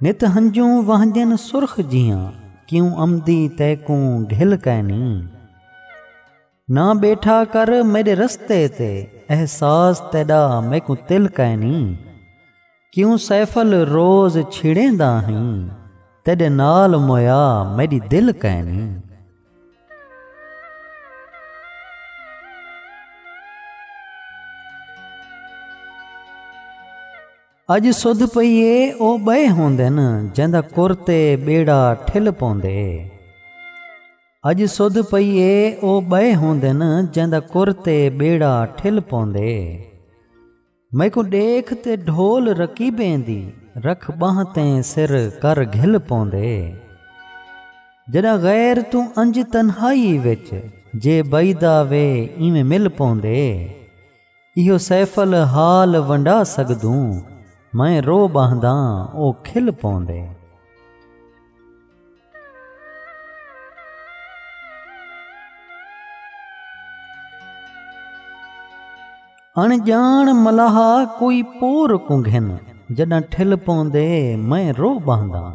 نت ہنجوں وہنجن سرخ جیاں کیوں امدی تیکوں گھل کائنی نہ بیٹھا کر میڈے رستے تے احساس تیڈا میکوں تل کائنی کیوں سیفل روز چھڑیں دا ہیں تیڈے نال مویا میڈی دل کائنی اڄ سدھ پئی اے او ٻئے ہوندن جیندا کر تے ٻیڑا ٹھل پوندے اڄ سدھ پئی اے او ٻئے ہوندن جیندا کر تے ٻیڑا ٹھل پوندے میکوں ڈیکھ تے ڈھول رکیبیں دی رکھ بانہ تے سر کر گھل پوندے جڈاں غیر توں انج تنہائی وچ جے بئیدا وے ایویں مل پوندے ایہو سیف ال حال ونڈا سگدوں میں رو ٻہنداں او کھل پوندے۔ اݨ ڄاݨ ملاح کوئی پور کوں گھن جݙاں ٹھل پوندے میں رو ٻہنداں۔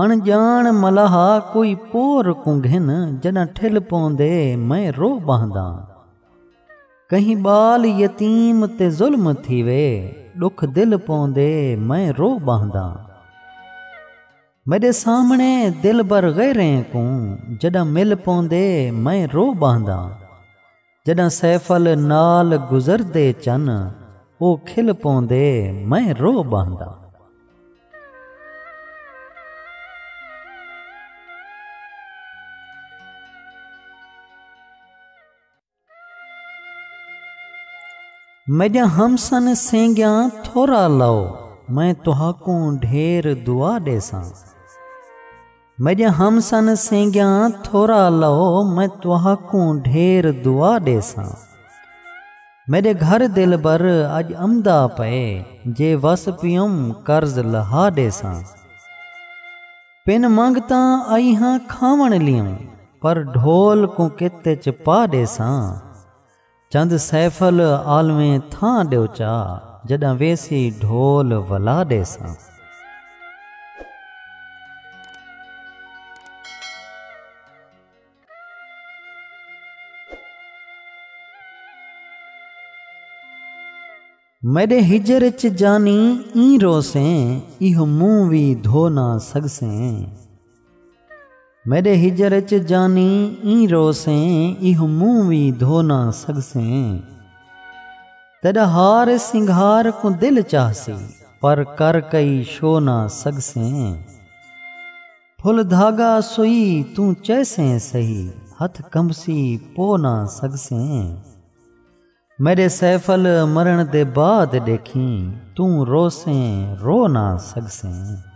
اݨ ڄاݨ ملاح کوئی پور کوں گھن جݙاں ٹھل پوندے میں رو ٻہنداں کہیں ٻال یتیم تے ظلم تھیوے ݙکھ دل پوندے میں رو ٻہنداں میݙے سامݨے دلبر غیریں کوں جݙاں مل پوندے میں رو ٻہنداں جݙاں سیفل نال گزردے چن او کھل پوندے میں رو ٻہنداں۔ میݙیاں ہمسن سینگیاں تھورا لو میں تہاکوں ڈھیر دعا ݙیساں۔ میݙیاں ہم سن سینگیاں تھورا لو میں تہاکوں ڈھیر دعا ݙیساں میݙے گھر دلبر اڄ امدا پئے جے وس پیوم قرض لہا ݙیساں پن منگتاں آئی ہاں کھاوݨ لیوں پر ڈھول کوں کت اچ پا ݙیساں۔ چند سیف ال عالمیں تھاں ڈیو چا جڈاں ویسی ڈھول ولا ڈیساں۔ میݙے ہجر اچ جانی ایں روسیں ایہو منہ وی دھو نہ سڳسیں میݙے ہجر اچ جانی ایں روسیں ایہو منہ وی دھو نہ سڳسیں تیݙا ہار سنگھار کوں دل چاہسی پر کر کئی شو نہ سڳسیں پھل دھاڳا سوئی توں چیسیں سہی ہتھ کمبسی پو نہ سڳسیں میݙے سیف ال مرݨ دے بعد ݙیکھیں توں روسیں رو نہ سڳسیں۔